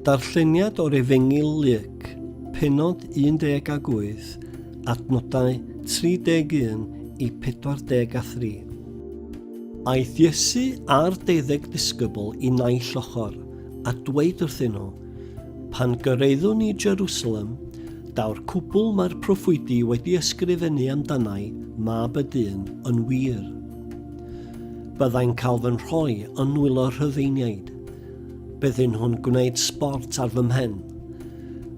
Darlleniad o'r Efengyl Luc, pennod 18, adnodau 31 i 43. Aeth Iesu a'r deuddeg disgybl i naill ochr, a dweud wrthyn nhw, Pan gyrraeddwn i Jerusalem, daw'r cwbl mae'r proffwydi wedi ysgrifennu amdanai, mab y dyn, yn wir. Byddai'n cael fy nhroi yn nwylo rhyfeiniaid. Byddyn nhw'n gwneud sbort ar fy mhen,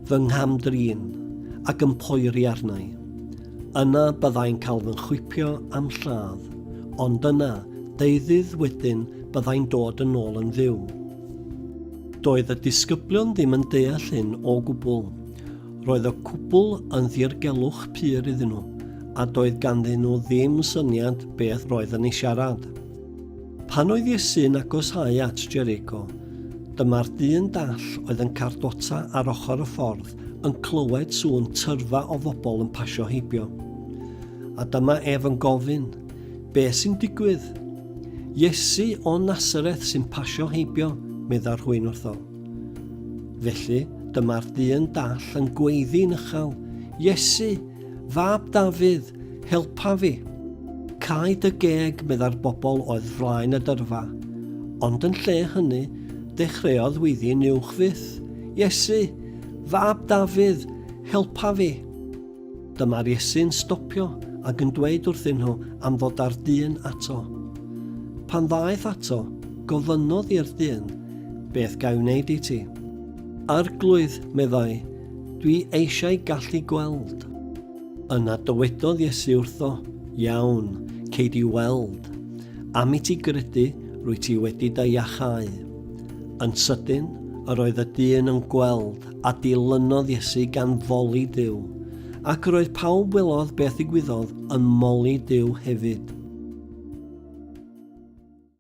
fy ngham-drin ac yn poeri arnau. Yna byddai'n cael fy nghwipio am lladd, ond yna, deuddydd wedyn, byddai'n dod yn ôl yn fyw. Doedd y disgyblion ddim yn deall hyn o gwbl. Roedd y cwpl yn ddirgelwch pur iddyn nhw, a doedd ganddyn nhw ddim syniad beth roedd yn ei siarad. Pan oedd Iesu'n agosáu at Jericho, dyma'r dyn dall oedd yn cardota ar ochr y ffordd yn clywed sŵn tyrfa o fobl yn pasio heibio. A dyma ef yn gofyn, be sy'n digwydd? Iesu o Nasareth sy'n pasio heibio, medda rhywun wrtho. Felly, dyma'r dyn dall yn gweiddi'n uchel, Iesu, fab Dafydd, helpa fi! Cau dy geg, medda'r bobl oedd flaen y dyrfa. Ond yn lle hynny, dechreuodd weiddi'n uwch fyth, Iesu, fab Dafydd, helpa fi! Dyma'r Iesu'n stopio ac yn dweud wrthyn nhw am ddod â'r dyn ato. Pan ddaeth ato, gofynnodd i'r dyn, Beth ga'i wneud i ti? Arglwydd, meddai, dwi eisiau gallu gweld. Yna dywedodd Iesu wrtho, Iawn, cei di weld. Am i ti gredu, rwy ti wedi dy iachau. Yn sydyn, yr oedd y dyn yn gweld A dilynodd Iesu gan foli Duw, ac roedd pawb welodd beth ddigwyddodd yn moli Duw hefyd.